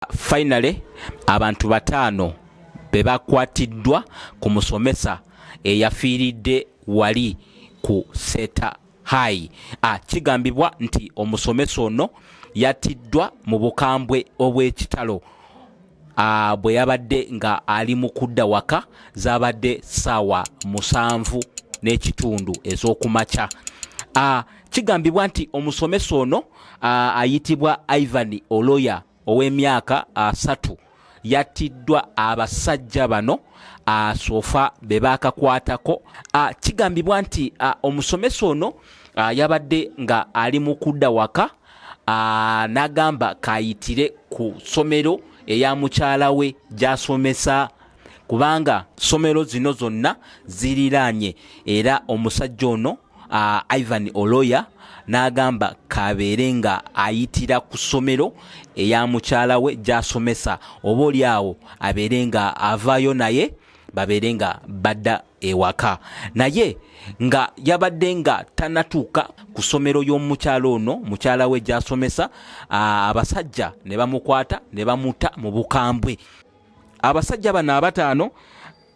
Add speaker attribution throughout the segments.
Speaker 1: Finally, abantu bataano be bakwatiddwa ku musomesa eyafiiridde wali ku Seeta High. Ah, kigambibwa nti omusomesa ono yattiddwa mu bukambwe obw'ekitalo ah, bwe yabadde nga ali mu kudda waka zaabadde ssaawa musanvu n'ekitundu ez'okumakya. Ah, kigambibwa nti omusomesa ono ayitibwa ivan oloya ow'emyaka asatu yattiddwa abasajja bano asofa be baakakwatako kigambibwa nti omusomesa ono yabadde nga ali mu kudda waka n'agamba kayitire ku ssomero eya mukyala we gy'asomesa kubanga somero zino zonna ziriraanye era omusajja ono uh, ivan oloya n'agamba kabeere nga ayitira ku ssomero eya mukyala we gy'asomesa oba oli awo abeere nga avaayo naye babeere nga badda ewaka naye nga yabadde nga tanatuuka ku ssomero y'omukyala ono mukyala we gy'asomesa abasajja ne bamukwata ne bamuta mu bukambwe abasajja bano abataano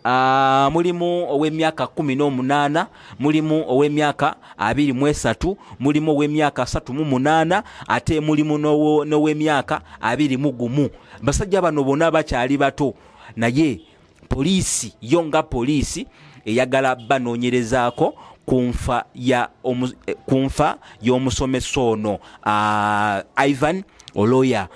Speaker 1: Uh, mulimu ow'emyaka kumi n'omunaana mulimu ow'emyaka abiri mu esatu mulimu ow'emyaka asatu mu munaana ate mulimu n'ow'emyaka abiri mu gumu basajja bano bona bakyali bato naye poliisi yo nga poliisi eyagala banoonyerezaako ku nfa eh, y'omusomesa ono uh, ivan oloya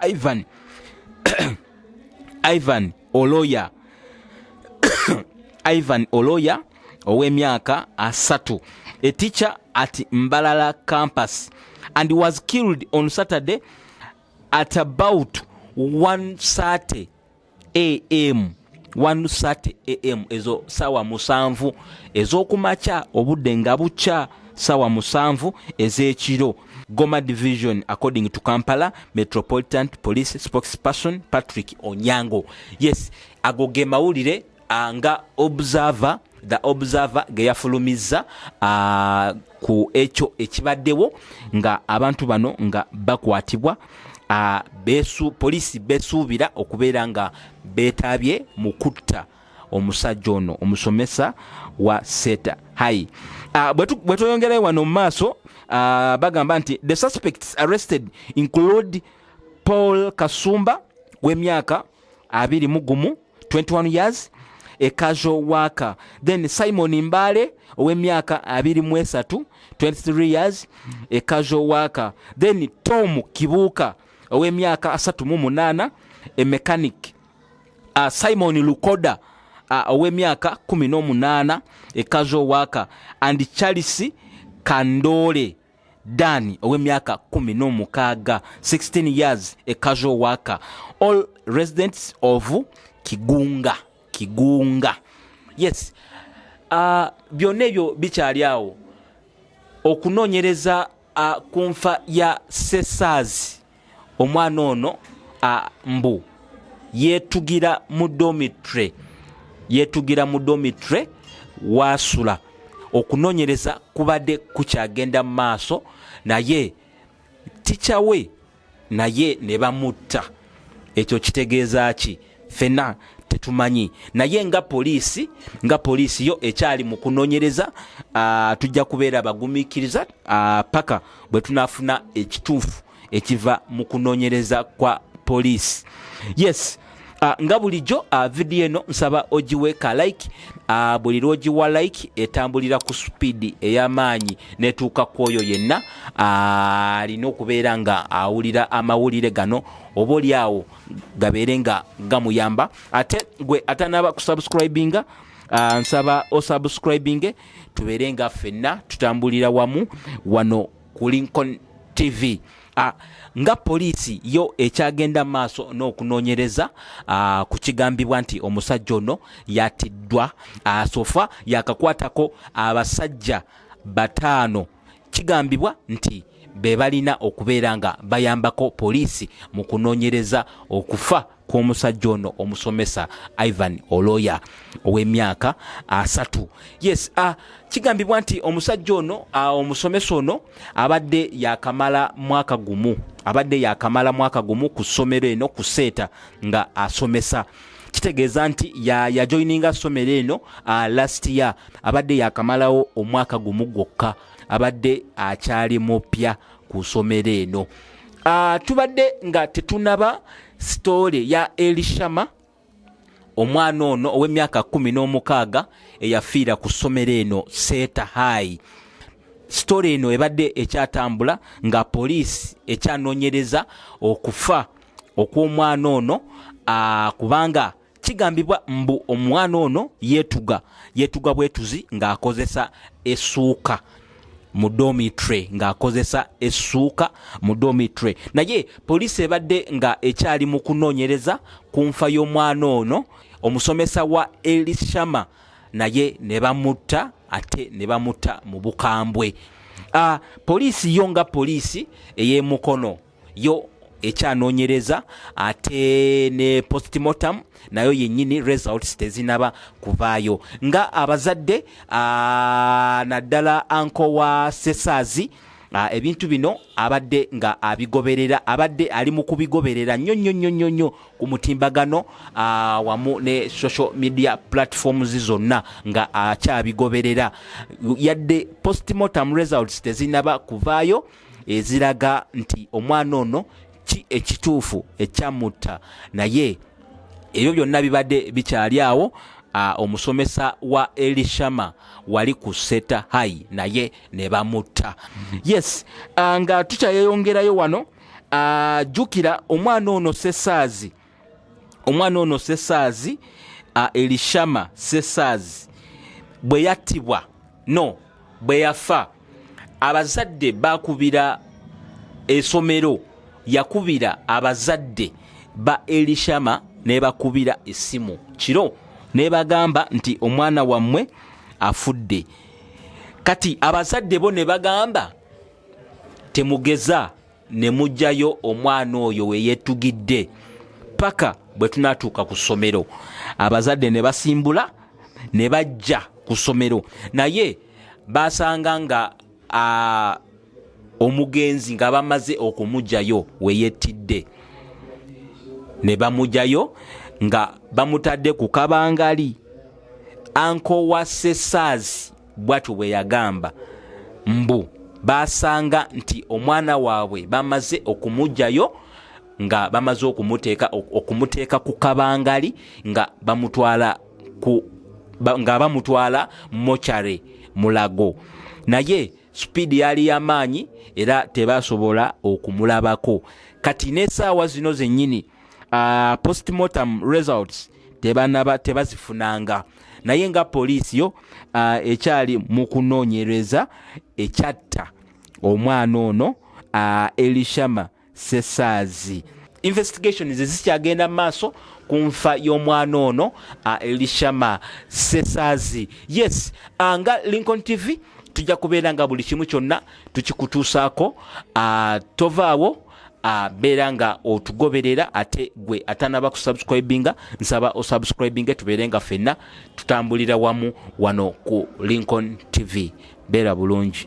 Speaker 1: Ivan Ivan Oloya Ivan Oloya ow'emyaka asatu a teacher at Mbalala campus and was killed on Saturday at about 1:30 am 130 am ezo sawa musanvu ezokumakya obudde nga bukya sawa musanvu ezekiro goma division according to kampala metropolitan police spokesperson patrick onyango yes ago ge mawulire Ah, nga observer the observer ge yafulumizza ah, ku ekyo ekibaddewo nga abantu bano nga bakwatibwa ah, besu poliisi besuubira okubeera nga beetaabye mu kutta omusajja ono omusomesa wa seta hai bwe tweyongerayo wano mu maaso bagamba nti the suspects arrested include paul kasumba w'emyaka abiri mu gumu 21 years a casual worker then simon mbale ow'emyaka 23 23 years a casual worker then tom kibuuka ow'emyaka 38 a mechanic uh, simon lukoda uh, ow'emyaka 18 a casual worker and charles kandole Dan ow'emyaka kumi n'omukaaga 16 years a casual worker all residents of Kigunga Kigunga yes uh, byonna ebyo bikyali awo okunoonyereza uh, ku nfa ya Sesaazi omwana ono mbu yetugira mu domitre yetugira mu domitre waasula okunonyereza kubadde kukyagenda mu maaso naye ticawe naye ne bamutta ekyo kitegeeza ki fena tetumanyi naye nga poliisi nga poliisi yo ekyali mu kunonyereza ah, tujja kubeera abagumikiriza ah, paka bwe tunafuna ekituufu ekiva mu kunonyereza kwa poliisi yes Uh, nga bulijjo uh, ah, vidiyo eno nsaba ogiwe ka like uh, buli lwogiwa like etambulira ku supiidi ey'amaanyi netuuka ku oyo yenna alina uh, okubeera nga awulira amawulire gano oba oli awo gabeere nga gamuyamba ate gwe atanaba kusubscribinga uh, nsaba osubscribinge tubeere nga ffenna tutambulira wamu wano ku lincoln tv uh, nga poliisi yo ekyagenda maaso n'okunoonyereza uh, ku kigambibwa nti omusajja ono yatiddwa uh, sofa yakakwatako abasajja bataano kigambibwa nti be balina okubeera nga bayambako poliisi mu kunoonyereza okufa kw'omusajja ono omusomesa ivan oloya ow'emyaka asatu yes uh, kigambibwa nti omusajja ono uh, omusomesa ono abadde yakamala mwaka gumu abadde yakamala mwaka gumu ku ssomero eno ku seeta nga asomesa uh, kitegeeza nti yajoininga ya somero eno uh, last year abadde yakamalawo omwaka gumu gwokka abadde akyali mupya ku somero eno uh, tubadde nga tetunaba sitore ya elishama omwana ono ow'emyaka kumi n'omukaaga eyafiira ku somero eno seeta haayi sitore eno ebadde ekyatambula nga poliisi ekyanoonyereza okufa okw'omwana ono ah, kubanga kigambibwa mbu omwana ono yetuga yetuga bwetuzi ng'akozesa esuuka mu domitre ng'akozesa essuuka mu domitre naye poliisi ebadde nga ekyali mu kunoonyereza ku nfa y'omwana ono omusomesa wa elishama naye ne bamutta ate ne bamutta mu bukambwe ah, poliisi yo nga poliisi ey'emukono yo ekyanonyereza ate ne postmortem nayo yennyini results tezinaba kuvaayo nga abazadde naddala anko wa sesaazi Ah, ebintu bino abadde nga abigoberera abadde ali mu kubigoberera nnyo nnyo nnyo nnyo nnyo ku mutimbagano ah, wamu ne social media platforms zonna nga akyabigoberera yadde postmortem results tezinaba kuvaayo eziraga nti omwana ono ki ekituufu ekyamutta naye ebyo byonna bibadde bikyali awo omusomesa wa elishama wali ku seta hai naye ne bamutta yes nga tukyayeyongerayo wano jjukira omwana ono sesaazi omwana ono sesaazi elishama sesaazi bwe yattibwa no bwe yafa abazadde bakubira esomero yakubira abazadde ba elishama nebakubira essimu kiro nebagamba nti omwana wammwe afudde kati abazadde bo ne bagamba temugeza ne mujjayo omwana oyo weyettugidde paka bwe tunatuuka ku ssomero abazadde ne basimbula ne bajja ku ssomero naye basanga nga omugenzi nga bamaze okumugyayo weyettidde ne bamugyayo nga bamutadde ku kabangali ankowa sesaazi bwatyo bwe yagamba mbu baasanga nti omwana waabwe bamaze okumugyayo nga bamaze okumuteeka okumuteeka ku kabangali nga bamutwala ku nga bamutwala mochare mulago naye supiidi yali yamaanyi era tebasobola okumulabako kati n'esaawa zino zennyini uh, postmortem results tebanaba tebazifunanga naye nga poliisi yo uh, ekyali mu kunoonyereza ekyatta omwana ono uh, elishama sesaazi investigations ezikyagenda mu maaso ku nfa y'omwana ono uh, elishama sesaazi yes uh, nga lincoln tv tujja kubeera nga buli kimu kyonna tukikutuusaako uh, tovaawo abeera nga otugoberera ate gwe atanaba kusubscribinga nsaba osubscribinge tubeere nga fenna tutambulira wamu wano ku lincoln tv beera bulungi